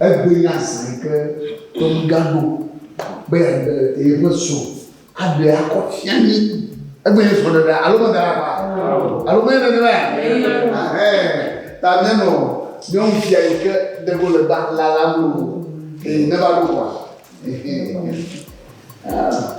Egbe ya zã yi ke Tony gaɖo be yeaɖe yeƒe srɔ̃ aɖe akɔ fia mí. Egbe nye srɔ̃ɖeɖea alo meda ɖa ƒa? Alo menye nenemae? Ɛhɛɛ. Ta míanɔ nyɔnu sia yi ke ɖe ɖo le ba lalam o. Ee, neva ɖo koa. Ɛhɛɛ. Ah.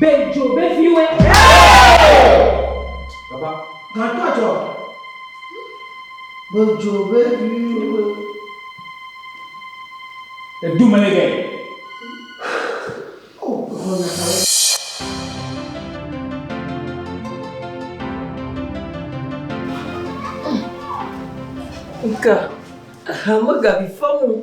Be dzo veviwoe. Baba. Gãtɔ dzɔ. Be dzo veviwoe. Edu me le gɛ. Nka, hama gabi famu.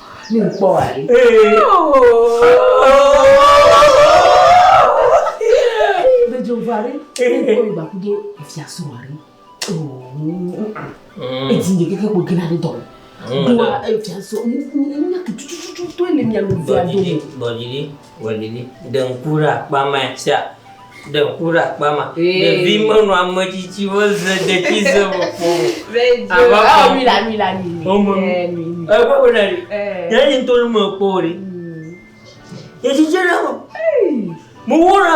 Ne kpɔ wa ɖi. Dedzo va ɖi. Ne kpɔ ba kudo efia so wa ɖi. Edi nye keke kpo gina ɖe dɔ. Dua efia so. Nya tutututu to ele nya mi via do. Bɔdzi ɖi. Wòlili. Ɖe ŋku ɖe akpa ma sia. Ɖe ŋku ɖe akpa ma. Ɖevi menɔ ame tsitsiwo ze detsize me kpɔ o. Ava kpɔ ŋku. Wome nu. Ekpɔ be na ɖi. Ɖe yi ŋutɔ nu mekpɔ o ɖi. Detsitsiɖe me. Mewɔ ɖa.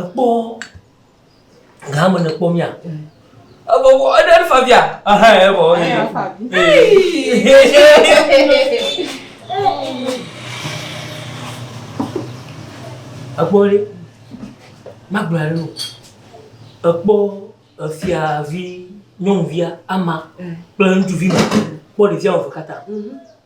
Ekpɔ gã me ne kpɔ mía. Ebɔbɔ eɖe eɖe fabia. Aha ebɔ. Ekpɔ ɖe magblɔ ɖe o. Ekpɔ efiavi nyɔnuvia ama kple ŋutsuvi ma kpɔ ɖevia eve katã.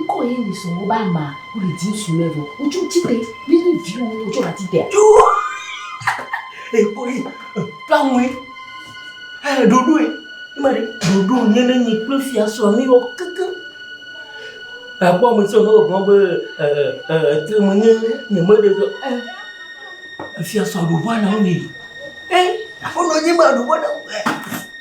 Ŋkɔ ye ni sɔŋ woba ma wuli di ŋsu ne vɔ wotsɔ tite mi ni viwo ne wotsɔ la tite. Ekɔ ye kpamu ye ɛ ɖoɖo ye ima ɖe ɖoɖo nye ne nyi kple fia sɔ mi wɔ keke. Ekpɔ mi sɔ ne wògbɔn be ɛ ɛ etre me nye nye me ɖe sɔ ɛ efia sɔ ɖoɖo ana wo mi ɛ afɔ nɔ nye ma ɖoɖo ana wo ɛ.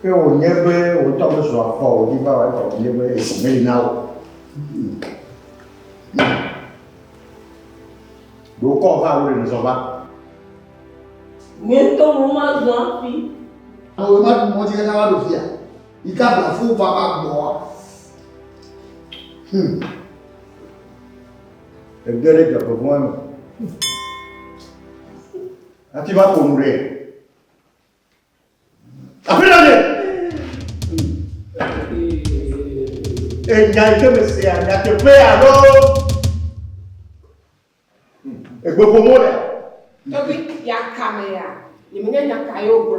Ke wònye be wò ŋutɔ mezu afɔ o, wòdi va wɔ eƒe ʋuʋu be esi meli na wò. Ɖo kɔ va alo ɖe zɔ va. Nye ŋutɔ mo mazɔ afi. Awo ma ɖu mɔ dzi katã va ɖo fia. Yi ka bla fo va va gbɔa. Hmm. Ege ɖe dzɔgbevɔ̃e me. Hafi va ƒo nu ɖe. Aƒenɔ ɖe. Enya yi ke mesea nyateƒe alo egbeƒomo ɖe. Tɔgbi yakame ya, nyemenya nya ka ye wogblɔ.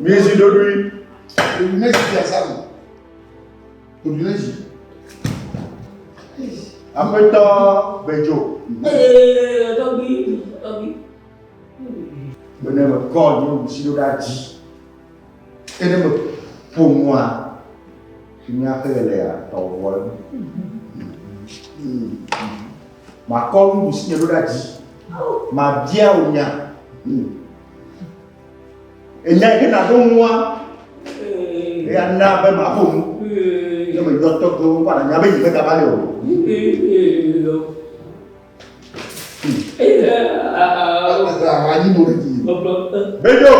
Mezi ɖoɖoe. Mezi ti asanu. Odunezi. Aƒetɔ Bejo. Ee, dɔgbi, dɔgbi. Bene me kɔ nye nusi ɖo ɖe adzi. Ene me ƒo nua. Fi mi aƒe le ya, tɔwɔ. Mm-hmm. Mm-hmm. Makɔ nuɖusinye ɖo ɖa dzi. Mabia wò nya. Enya yi ke nàɖo nua, eya na be maƒo nu. Ne meyɔ tɔgbe wo va nànya be yi megava le o. Anyi mo ɖe ti. Bejo.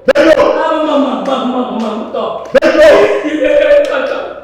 Bejo. Bejo.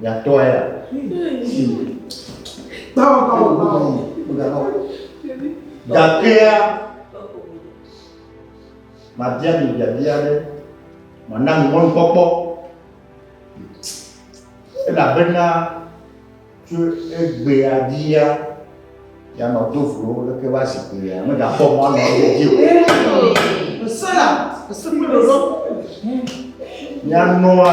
Nyatɔe ya. Bawo bawo bawo. Gakea mabia mi biabia aɖe mana mi mɔnukpɔkpɔ elabena tso egbea dzia yanɔ do vlo leke va zi gbea megakpɔ mɔ anɔ ye dzi o. Esela esekpe ɖoɖo. Yanɔa.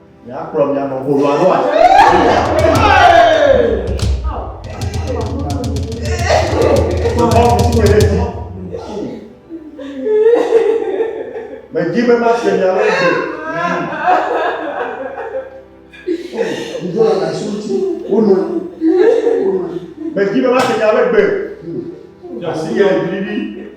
Míakplɔ mía nɔ ƒo ɖoa ɖoa. Medi be ma se mia lɔ do. Ŋdɔ la na su ti. Wono. Medi be ma se mia lɔ gbe. Asi yɛ didi.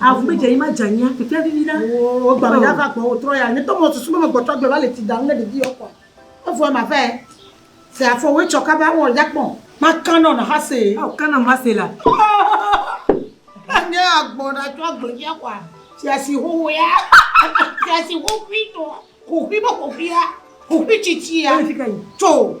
Avu be dzeanyi ma dzeanyia kpekpea vivi ɖa. Oo egba me ya va gbɔwò trɔ ya nye tɔ mɔ susu be me gbɔtɔ agble va le ti dam ne ɖevi yɔ kɔa evɔɛ ma vɛ se afɔ woe tsɔ kaba wɔ ya kpɔ. Ma kanɔ na hase. Ao kanɔ ma se la. Hahaha ne agbɔ na tsɔ agble via kɔa tia si hoho ya tia si hohui tɔ hohui be hohuia hohui tsitsia tso.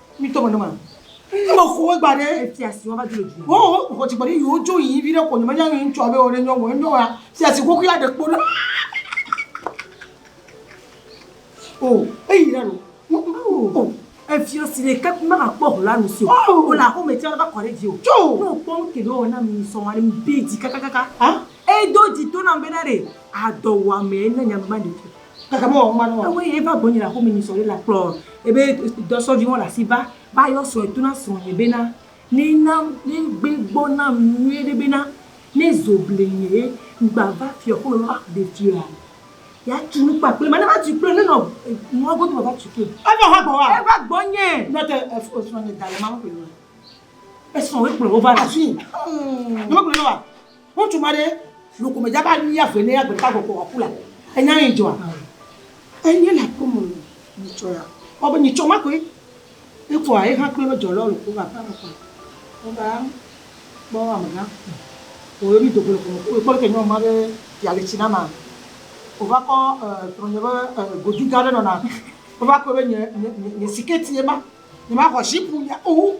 mi tɔ mɛnɛ ma ne me xɔ egba ɖe etia si wa va dzi le dzi wo wo xɔ tsi gbɔdɔ yi wo dzo yi vi ɖe ko nyɔmɛ nyɔmɛ ŋutsua be wo ɖe nyɔmɛ wo nyɔmɛ si asi koko ya ɖe kpo ɖe o eyi ɖe no o efia si ɖe kpe ma kpɔ ho la nu si o wo la xɔ mɛ tia va kɔ ɖe dzi o tso ne o kpɔ ŋke ɖe o na mi sɔ wa ɖe mi be dzi kakakaka edo dzi to na be na ɖe adɔ wa mɛ ne nyamɛ ma ɖe fi Kaka be wòaŋu anɔ ewɔe ye va gbɔnye le aƒeme nyi srɔ̃ɖe la kplɔ ebe dɔ srɔ̃vi mɔ le asi va va yɔ srɔ̃e to na srɔ̃nye bena ne na ne gbe gbɔ nam nyuie ɖe bena ne zo ble nye ye ŋgba va fiɔ ƒome va va ɖe fiɔa ya tu nu kpakple ma ne va tu kple ne nɔ nua godo va va tu kple. Eva hã gbɔwòa? Eva gbɔnye. Nɔ te efo srɔ̃nye da le ma me kple nua esrɔ̃ wo ekplɔ wo va ɖe afi. Hum. Nɔ me kple nɔa. Ŋutsu ma ɖe nu ko medza be alia ƒe ne agbe ta gbɔ kpɔ aku la. Enya yi dzɔa? Enye le aƒe me o yi tsɔ ya. Kpɔ be nyi tsɔ ma koe. Evɔa eha kple lɔ dzɔ lɔ le ko va aƒe me kpɔ. Wo va kpɔ amegã. Wo yɔ mi dogo le ƒome ko kpɔ le ke nyɔ ma be ya le tsi na ma. Wo va kɔ trɔ nye be godi ga ɖe nɔ na. Wo va kpɔ be nye siketi ye ma. Nye ma xɔ zipu ya o.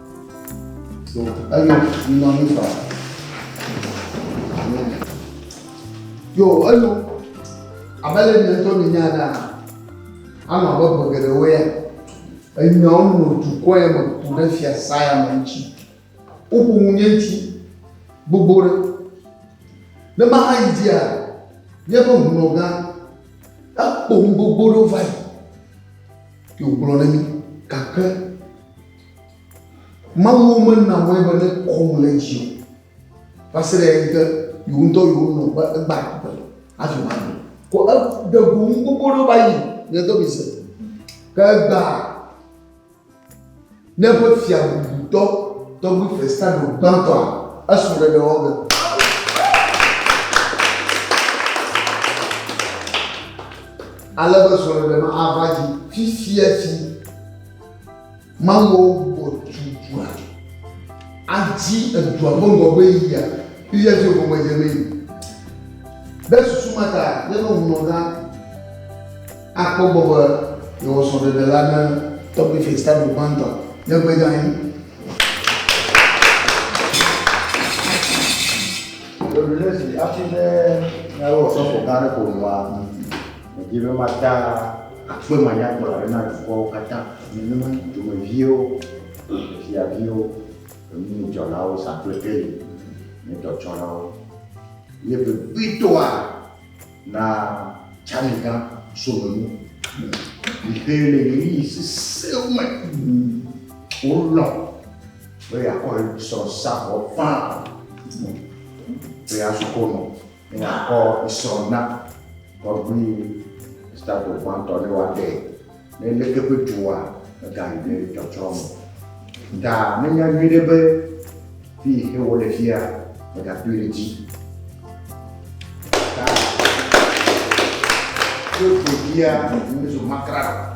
So, eyo, minɔ anyi fa. Amen. Yo, eyo, abe le mi ŋutɔ mi nya ɖaa, anɔ abe ƒe geɖewo ya, enyawo nɔ dukɔ ya me ku ɖe fiasã ya me ŋuti. Woƒo nu nye ŋuti gbogbo ɖe. Ne maha yi dzia, míaƒe hunɔgã ekpɔ nu gbogbo ɖewo va yi. Yo, gblɔ ne mi, gake Mawuwo mena wɔe be ne kɔm le edzi o. Va se ɖe ŋke yewo ŋutɔ yewo nɔ be egba be hafi woaɖu. Ko eɖe go nu gbogbo ɖewo va yi le do mise. Ke egba ne eƒe fiabubutɔ tɔgbi Festado gbãtɔa esrɔ̃ ɖeɖe wɔ ge. Ale be srɔ̃ɖeɖe ma ava dzi fifia dzi. Mawuawo bɔbɔ tu dua. Adzi edua ƒe ŋgɔgbe yia. Israel ƒe gɔmedze mee. Ɖe susu ma ta, míaƒe ŋunɔla akpɔ egbɔ be yewɔ srɔ̃ɖeɖe la ne tɔgbi Festado gbãtɔ nye gbedzi anyi. Ɖe wòle zi hafi be míalé ɔsɔfo gã aɖe ƒo nua? Medi be mada akpe manyagblɔ aɖe na dukɔwo katã, nenema dzidzɔmeviwo, fiaviwo, enudzɔlawo, sakplekeli, nyadɔtsɔlawo, ye vevietɔa na tsani gã somenu mi xe le ɣeyiɣi sesẽwo me. Wolɔ̃ be yeakɔ srɔ̃ sa vɔ ƒã be yeasukɔ nɔ Mìakɔ esɔ na tɔgbui Gustavo gbãtɔ ne woaɖe nelé eƒe dua megayi ɖe tsɔtsrɔ̃ me. Ga menya nyuiɖe be fi he wole fia megadoe ɖe dzi. Ga tso ɖevia mezu makra.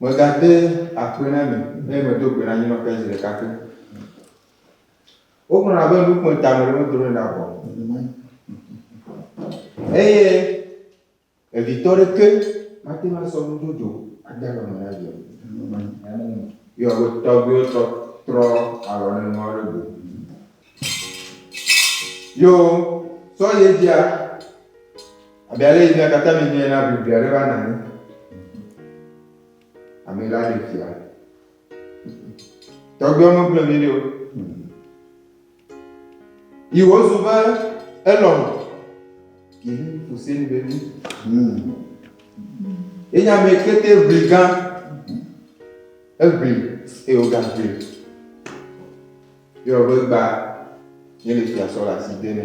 Megade akpe na mi, eye medo gbe na anyinɔƒea zi ɖeka pɛ. Wogblɔna be nu kpɔe ta ameɖe medronɛ ɖa o, eye evitɔ ɖeke mate ŋu asɔ nu dzodzo ade alɔ me na via o. Yɔ be tɔgbuiwo trɔ trɔ alɔ ɖe nua ɖe go. Yo, sɔ ye dzia, abe ale yi mía katã mi mía na bibi aɖe va na anyi. Ame la ɖe fia. Tɔgbiwo me gblɔ mi ɖo. Yi wo zu be elɔ. Yi ni fuse ni be mi. Ye nya me kete bli gan. Ebli, eyo gan bli. Yɔ be gba ye le fia sɔ le asi de ne.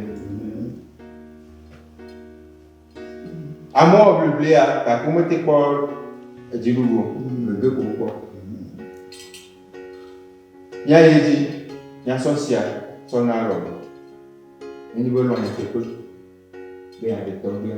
Amewo wɔ bliblia gake womete kpɔ edziɖuɖu o. Gbegbe ko wokpɔ. Míayi edzi míasɔ sia sɔ na lɔ. Nenye be lɔ nyeteƒe be yeaɖe tɔgbia.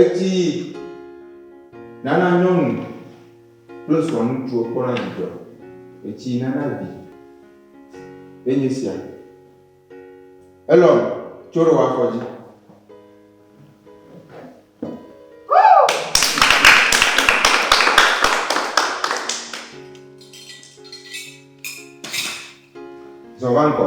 Etsi yi nana nyɔnu kple srɔ̃ ŋutsuwo kpɔna dzidzɔ. Etsi yi nana vi ye nye sia. Elɔn, tso ɖe wò afɔ dzi. Zɔ va ŋgɔ.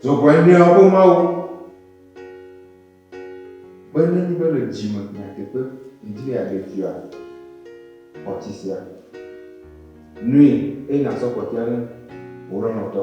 Dzɔgbɔ nyuiawo ƒe Mawu. Be ne nyi be le dzi me nyateƒe ŋdi be yeaɖe fia xɔ tsi sia nui eye nasɔ kpɔtɔea ne wò lɔlɔ̃tɔ.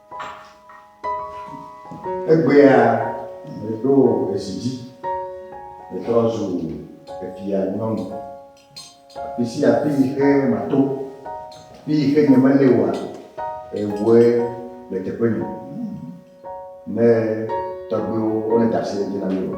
Egbea meɖo ezi dzi metrɔ zu efia nyɔnu. Afi sia afi yi ke mato, afi yi ke nyemeli oa, ewɔe le teƒe nye. Ne tɔgbuiwo wole da asi ɖe edzi na mí o.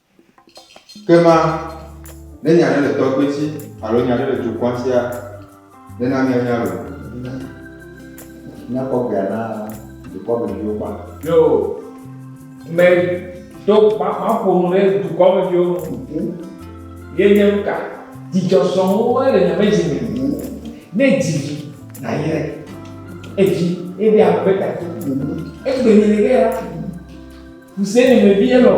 Ke ma, ne nya aɖe le tɔgbui si alo nya aɖe le dukɔa sia, nena míanya loo. Míakpɔ gbea na dukɔ me viwo kpa. Yo, me do maƒo nu ɖe dukɔ me viwo ŋu. Ye nye nu ka? Dzidzɔ sɔŋ woe le nyame dzi me. Ne dzi vi nayre evi ebe ame be tatu. Egbe nyenye ge ya. Hussein me vie lɔ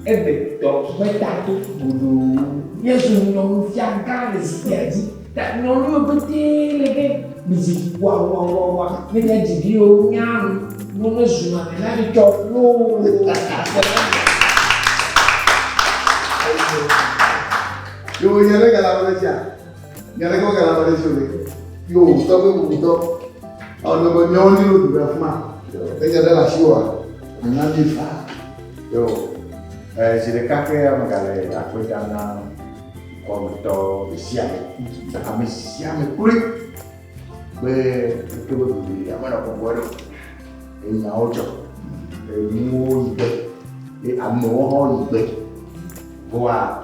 egbe tɔ me ta to godoo. Yesu nyɔnu fia gã le zikpuia dzi. Ta nyɔnu yo gbete le ge mi zi wa wa wa wa. Ne nya dzi vi yo nya nu. Nyɔ me zu ma me na mi tɔ lo. Yo nya le gala wala dzi a. Nya ɖe gbɔgã la ƒe ɖe fiore. Yo wòtɔ be wòtɔ. Ɔnɔ be nyɔwo ni lo ɖuɖa fuma. Eja ɖe le asi wa. Anya mi fa. Yo. Eh, zi ɖeka ke ya megale akpe da na kɔmetɔ ɖesia ɖe. Ame sia ame kloe. Be ke be ɖuɖu ame nɔ kɔkɔe ɖo. Enyawo dzɔ. Enuwo yi gbe. Amewo hã yi gbe. Voa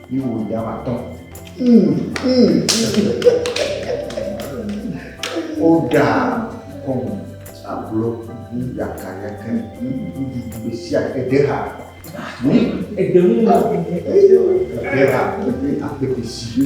Yi wo ya ma tɔn. O da kɔmu aglo ni ya ka ya ka ni be si a ke de ha. Ni e de mu ma. E de ha e de a ke de si.